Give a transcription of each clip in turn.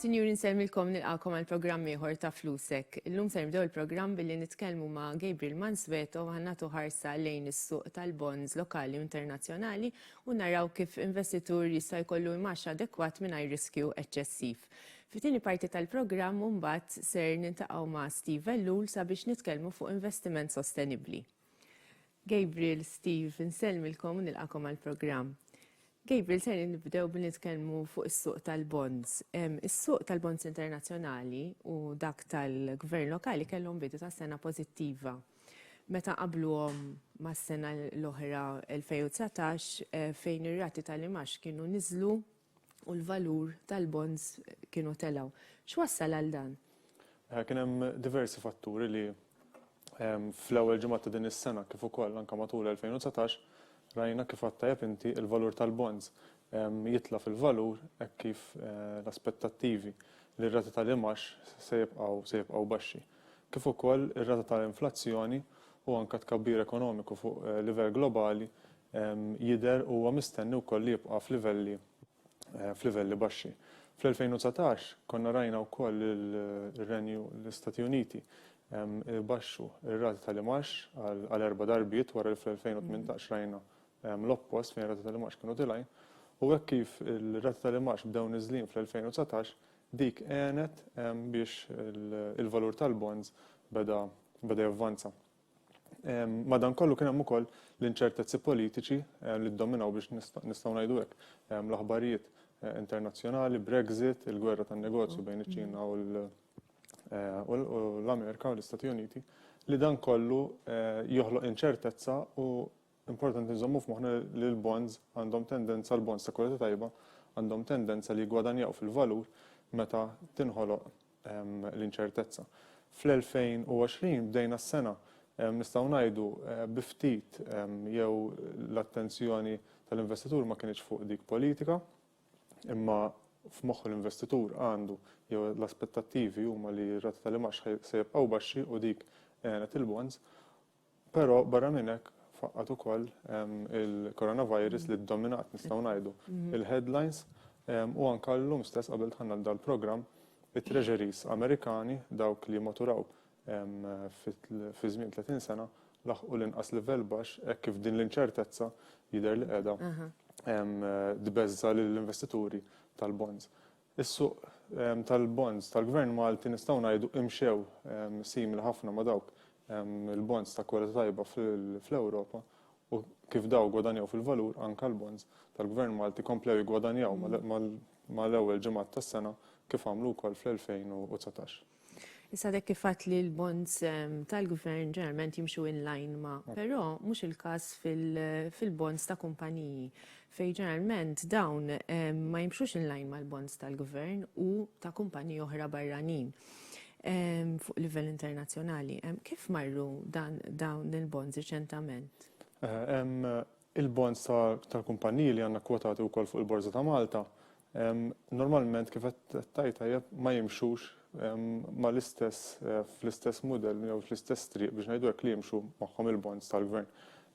Sinjuri nsellmilkom nilqakom għal programm ieħor ta' Flusek. Illum se nibdew il-programm billi nitkellmu ma' Gabriel Mansweto ħannatu ħarsa lejn is-suq tal-bonds lokali u internazzjonali u naraw kif investitur jista' jkollu imax adekwat mingħajr riskju eċċessiv. Fit-tieni parti tal-programm imbagħad ser niltaqgħu ma' Steve Ellul sabiex nitkellmu fuq investiment sostenibbli. Gabriel, Steve, insellmilkom u nilqagħkom għall-programm. Gabriel, ser nibdew billi nitkellmu fuq is-suq tal-bonds. Is-suq tal-bonds internazzjonali u dak tal-gvern lokali kellhom bidu ta' sena pożittiva. Meta nqabbluhom mas-sena l-oħra 2019 fejn ir-rati tal-imgħax kienu niżlu u l-valur tal-bonds kienu telgħu. X'wassal għal dan? Kien hemm diversi fatturi li fl-ewwel ġimgħat ta' din is-sena kif ukoll anke matul 2019 rajna kif għad tajjeb inti l-valur tal-bonds jitla' fil-valur hekk kif l-aspettattivi li r-rati tal-imgħax se jibqgħu se jibqgħu baxxi. Kif ukoll ir-rata tal-inflazzjoni u anke t-tkabbir ekonomiku fuq livell globali jidher u huwa mistenni wkoll li jibqa' f'livelli f'livelli baxxi. Fl-2019 konna rajna wkoll li r-Renju l-Istati Uniti ibaxxu r-rati tal-imgħax għal erba' darbiet wara li fl-2018 rajna l-oppost fejn ir-rati tal-imgħax kienu tilgħin u hekk kif ir-rati tal-imgħax bdew niżlin fl-2019 dik għenet biex il-valur tal-bonds beda beda javvanza. Madankollu kien hemm ukoll l-inċertezzi politiċi li ddominaw biex nistgħu ngħidu hekk l-aħbarijiet internazzjonali, Brexit, il-gwerra tan-negozju bejn iċ-Ċina u l-Amerika u l-Istati Uniti, li dan kollu joħloq inċertezza u Importanti nżommu f'moħħna li l-bonds għandhom tendenza, l-bonds ta' kwalità tajba, għandhom tendenza li jiggwadanjaw fil-valur meta tinħoloq l-inċertezza. Fl-2020 bdejna s-sena, nistgħu ngħidu, bi ftit jew l-attenzjoni tal-investitur ma kinitx fuq dik politika, imma f'moħħu l-investitur għandu jew l-aspettattivi huma li r-rati tal-imgħax se jibqgħu baxxi u dik għenet il-bonds. Però barra minn hekk faqqgħet ukoll il-coronavirus li ddominat nistgħu ngħidu il-headlines u anke llum stess qabel dħalna f'dan il-programm it-treasuries Amerikani dawk li maturaw fi żmien 30 sena laħqu l-inqas livell baxx hekk kif din l-inċertezza jidher li qiegħda tbeżża' lill-investituri tal-bonds. Is-suq tal-bonds tal-Gvern Malti nistgħu ngħidu imxew simili ħafna ma' dawk il-bonds ta' kwalità tajba fl-Ewropa u kif dawn gwadanjaw fil-valur anke l-bonds tal-Gvern Malti komplew jiggwadanjaw mal-ewwel ġimgħat tas-sena kif għamlu wkoll fl-2019. Issa dek kifat li l-bonds ehm, tal-gvern ġeneralment jimxu in line ma, però mhux il-każ fil-bonds ta' kumpaniji fej ġeneralment dawn ehm, ma jimxux in line mal-bonds tal-gvern u ta' kumpaniji oħra barranin ehm, fuq livell internazzjonali. Kif marru dan dawn il-bonds riċentament? Eh, Il-bonds tal-kumpanniji li għandna kkwotati wkoll fuq il-Borża ta' Malta, normalment kif qed tgħid tajjeb, ma jimxux mal-istess, fl-istess mudell jew fl-istess triq biex ngħidu hekk li jimxu magħhom il-bonds tal-gvern.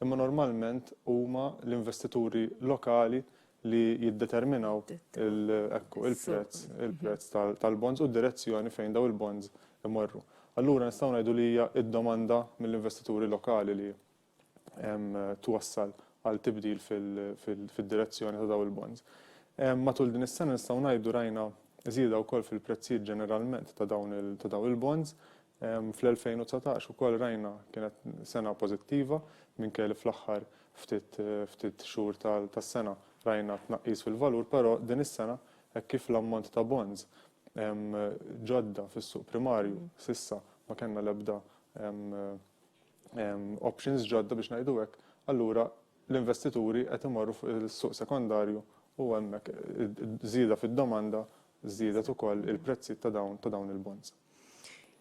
Imma normalment huma l-investituri lokali li jiddeterminaw il, ekku, il-prezz, il-prezz tal-bonds u d-direzzjoni fejn dawn il-bonds imorru. Allura nistgħu ngħidu li hija d-domanda mill-investituri lokali li twassal għal tibdil fid-direzzjoni ta' dawn il-bonds. Matul din is-sena nistgħu ngħidu rajna żieda wkoll fil-prezzijiet ġeneralment ta' dawn il-bonds. Fl-2019 ukoll rajna kienet sena pożittiva minkejja li fl-aħħar ftit xhur tas-sena rajna tnaqqis fil-valur, però din is-sena hekk kif l-ammont ta' bonds ġodda fis-suq primarju s'issa ma kellna l-ebda options ġodda biex ngħidu hekk, allura l-investituri qed imorru fuq is-suq sekondarju u hemmhekk żieda fid-domanda żdiedet ukoll il-prezzijiet ta' dawn ta' dawn il-bonds.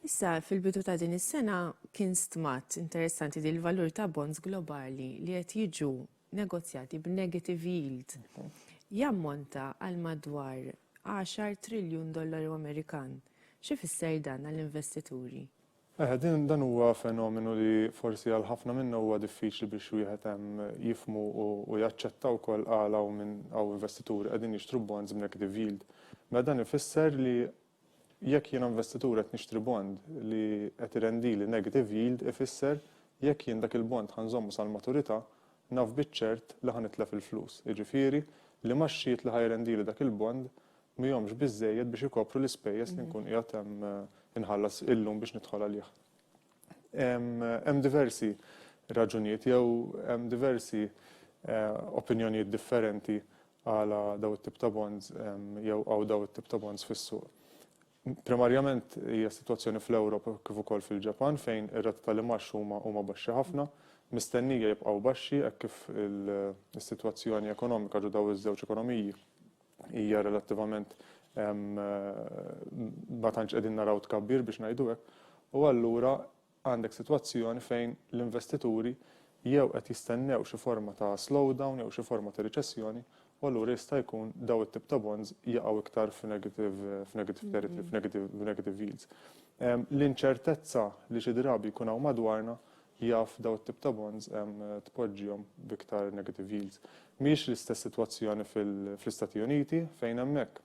Issa, fil-bidu ta' din is-sena kien stmat interessanti li l-valur ta' bonds globali li qed jiġu negozjati b'negative yield jammonta għal madwar 10 triljun dollaru Amerikan. X'ifisser dan għall-investituri? Eħe, din, dan huwa fenomenu li forsi għal ħafna minna huwa diffiċli biex wieħed ehm, jifhmu u, u jaċċetta wkoll għala hawn min, hawn investituri qegħdin jixtru bonds b'negative yield. Mela dan ifisser li jekk jiena investitur qed nixtri bond li qed irendili negative yield ifisser jekk jien dak il-bond ħa nżommu sal-maturità naf biċ-ċert li ħa nitlef il-flus, jiġifieri li ma x-xiet li ħa jrendili dak il-bond mhihomx biżżejjed biex ikopru l-ispejjeż li nkun qiegħed hemm inħallas illum biex nidħol għalih. Hemm diversi raġunijiet jew hemm diversi opinjonijiet differenti għala daw it-tip ta' bonds jew għaw daw it-tip ta' bonds fis-suq. Primarjament hija sitwazzjoni fl-Ewropa kif ukoll fil-Ġapan fejn ir-rati tal-imgħax huma huma baxxi ħafna, mistennija jibqgħu baxxi hekk kif is-sitwazzjoni ekonomika ġo daw iż-żewġ ekonomiji hija relattivament ma tantx qegħdin naraw tkabbir biex ngħidu hekk, u allura għandek sitwazzjoni fejn l-investituri jew qed jistennew xi forma ta' slowdown jew xi forma ta' riċessjoni u allura jista' jkun daw it-tip ta' bonds jaqgħu iktar f'negative territory, f'negative yields. L-inċertezza li xi drabi jkun hawn madwarna jaf dawn it-tip ta' bonds tpoġġihom b'iktar negative yields. Mhijiex l-istess sitwazzjoni fl-Istati Uniti fejn hemmhekk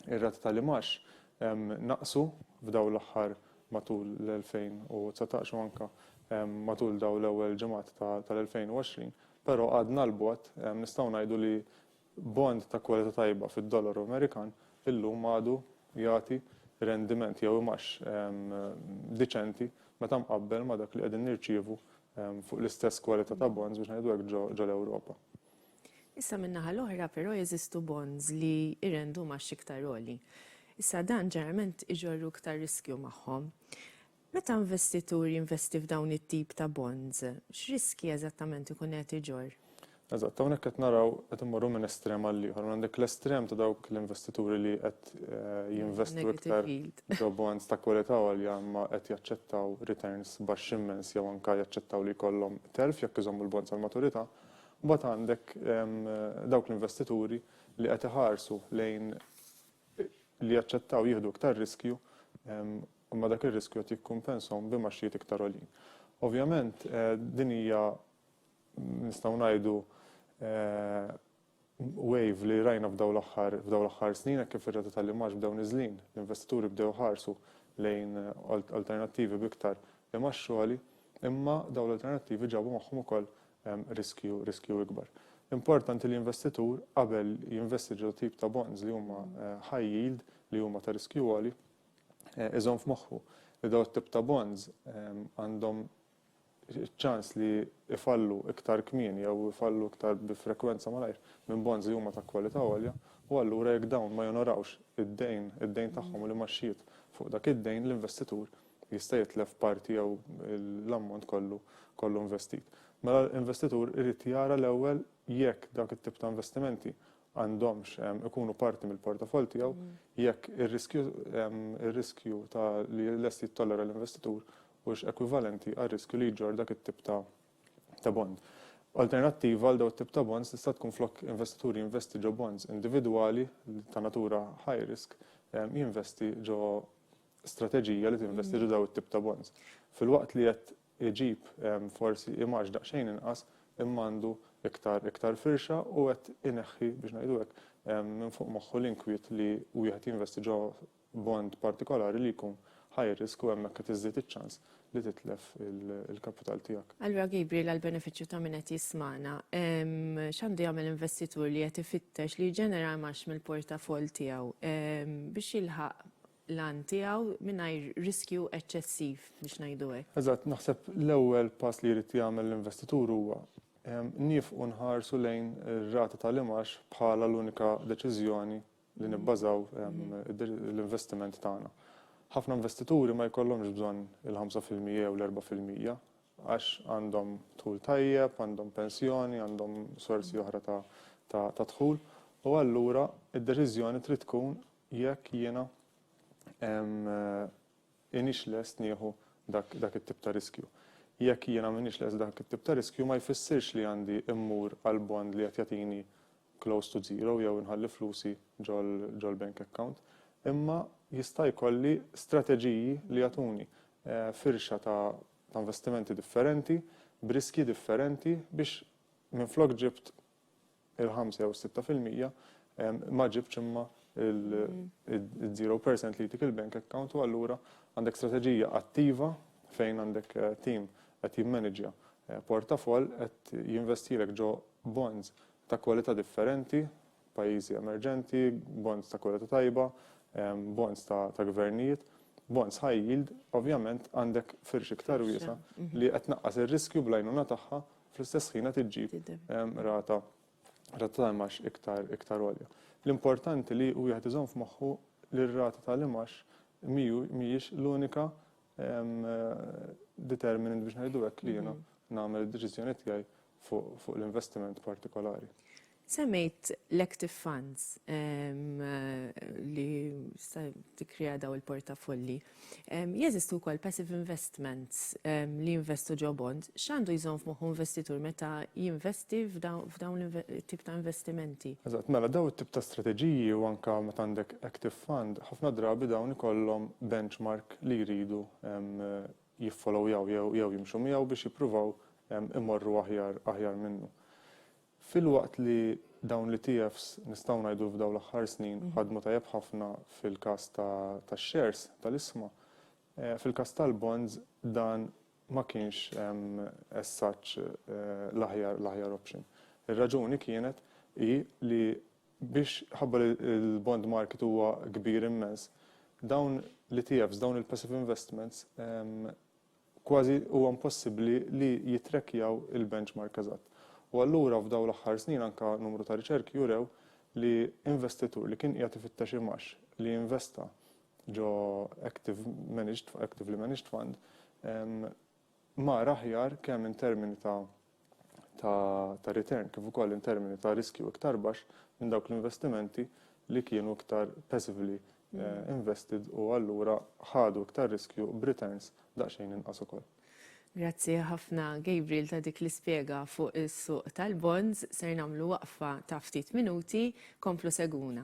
ir-rati tal-imgħax naqsu f'dawn l-aħħar matul l-2019 u anke matul dawn l-ewwel ġimgħat tal-2020, però għadna 'l bogħod nistgħu ngħidu li Bond ta' kwalità tajba fid-dollaru Amerikan illum għadu jagħti rendiment jew imgħax diċenti meta mqabbel ma' dak li qegħdin nirċievu fuq l-istess kwalità ta' bonds biex ngħidu hekk ġol-Ewropa. Issa min-naħa l-oħra però jeżistu bonds li jrendu mgħax iktar għoli. Issa dan ġeneralment iġorru iktar riskju magħhom. Meta investitur jinvesti f'dawn it-tip ta' bonds, x'riskji eżattament ikun qiegħed iġorr? Eżatt, hawnhekk qed naraw qed immorru minn estrem għal ieħor. Għandek l-estrem ta' dawk l-investituri li qed jinvestu iktar ġo bonds ta' kwalità għolja imma qed jaċċettaw returns baxxi immens jew anke jaċċettaw li jkollhom telf jekk iżommu l-bonds għall-maturità. Imbagħad għandek dawk l-investituri li qed iħarsu lejn li jaċċettaw jieħdu iktar riskju imma dak ir-riskju qed jikkumpensahom bi mgħaxxijiet iktar għoljin. Ovvjament, din hija, nistgħu ngħidu, wave li rajna f'dawn l-aħħar snin hekk kif ir-rata tal-imgħax bdew niżlin, l-investituri bdew iħarsu lejn alternattivi b'iktar imgħax għoli, imma dawn l-alternattivi ġabu magħhom ukoll riskju ikbar. Importanti li investitur qabel jinvesti ġo tip ta' bonds li huma high yield, li huma ta' riskju għoli, iżomm f'moħħu li dawn it-tip ta' bonds għandhom ċ-ċans li jfallu iktar kmieni jew ifallu iktar bi frekwenza malajr minn bonds li huma ta' kwalità għolja u allura jekk dawn ma jonorawx id-dejn id-dejn tagħhom u l-imgħaxxijiet fuq dak id-dejn l-investitur jista' jitlef parti jew l-ammont kollu kollu investit. Mela l-investitur irid jara l-ewwel jekk dak it-tip ta' investimenti għandhomx ikunu parti mill-portafoll tiegħu jekk ir-riskju ta' li lest jittollera l-investitur huwiex ekwivalenti għar-riskju li jġorr dak it-tip ta' bond. Alternattiva għal dawn it-tip ta' bonds tista' tkun flok investitur jinvesti ġo bonds individwali ta' natura high risk, jinvesti ġo strateġija li tinvesti ġo dawn it-tip ta' bonds. Filwaqt li qed iġib forsi imaġġ daqsxejn inqas imma għandu iktar iktar firxa u qed ineħħi, biex ngħidu hekk, minn fuq moħħu l-inkwiet li wieħed jinvesti ġo bond partikolari li jkun high risk u hemmhekk qed iżżid iċ-ċans li titlef il-kapital tiegħek. Allura Gabriel għall-benefiċċju ta' min qed jismagħna, x'għandu jagħmel investitur li qed ifittex li jġenera imaġġ mill-portafoll tiegħu biex jilħaq l-għan tiegħu mingħajr riskju eċċessiv biex ngħidu hekk. Eżatt, naħseb l-ewwel pass li jrid jagħmel l-investitur huwa niefqu nħarsu lejn ir-rata tal-imgħax bħala l-unika deċiżjoni li nibbażaw l-investiment tagħna. Ħafna investituri ma jkollhomx bżonn il-ħamsa fil-mija jew l-erbgħa fil-mija għax għandhom dħul tajjeb, għandhom pensjoni, għandhom sorsi oħra ta' dħul u allura d-deċiżjoni trid tkun Jekk jiena m'iniex lest nieħu dak it-tip ta' riskju. Jekk jiena m'iniex lest dak it-tip ta' riskju ma jfissirx li għandi mmur għal bond li qed jagħtini close to zero jew inħalli flusi ġol-bank account, imma jista' jkolli strateġiji li jagħtuni firxa ta' investimenti differenti b'riskji differenti biex minflok ġibt il-ħamsa jew is-sitta fil-mija, ma ġibtx imma il-zero percent li jtik il-bank account u allura għandek strateġija attiva fejn għandek tim qed jimmaniġja portafoll qed jinvestilek ġo bonds ta' kwalità differenti, pajjiżi emerġenti, bonds ta' kwalità tajba, bonds ta' gvernijiet, bonds high yield, ovvjament għandek firxa iktar wiesgħa li qed tnaqqas ir-riskju bl-għajnuna tagħha fl-istess ħin qed iġġib rata rata ta' imax iktar iktar għolja. L-importanti li wieħed iżomm f'moħħu li r-rata tal-imax mhijiex l-unika determinant biex ngħidu hekk li jiena nagħmel id-deċiżjoni tiegħi fuq l-investiment partikolari. Semmejt l-active funds li sa tikkrea daw il-portafolli. Jeżistu wkoll passive investments li jinvestu ġo bonds. X'għandu jżomm f'moħħu investitur meta jinvesti f'dawn it-tip ta' investimenti? Eżatt. Mela, daw it-tip ta' strateġiji u anke meta għandek active fund, ħafna drabi dawn ikollhom benchmark li jridu jiffolowjaw jew jimxu miegħu biex jippruvaw imorru aħjar minnu. Filwaqt li dawn l-ETFs nistgħu ngħidu f'dawn l-aħħar snin ħadmu tajjeb ħafna fil-każ tax-shares tal-isma, fil-każ tal-bonds dan ma kienx as such l-aħjar l-aħjar option. Ir-raġuni kienet hi li biex ħabba li l-bond market huwa kbir immens, dawn l-ETFs, dawn il-passive investments kważi huwa impossibbli li jittrackjaw il-benchmark eżatt. U allura f'dawn l-aħħar snin anke numru ta' riċerki jurew li investitur li kien qiegħed ifittex imgħax li jinvesta ġo active managed, actively managed fund, mar aħjar kemm in termini ta' ta' return kif ukoll in termini ta' riskju iktar baxx minn dawk l-investimenti li kienu iktar passively invested u allura ħadu iktar riskju b'returns daqsxejn inqas ukoll. Grazzi ħafna Gabriel ta' dik l-ispjega fuq is-suq tal-bonds. Ser nagħmlu waqfa ta' ftit minuti. Komplu segwuna.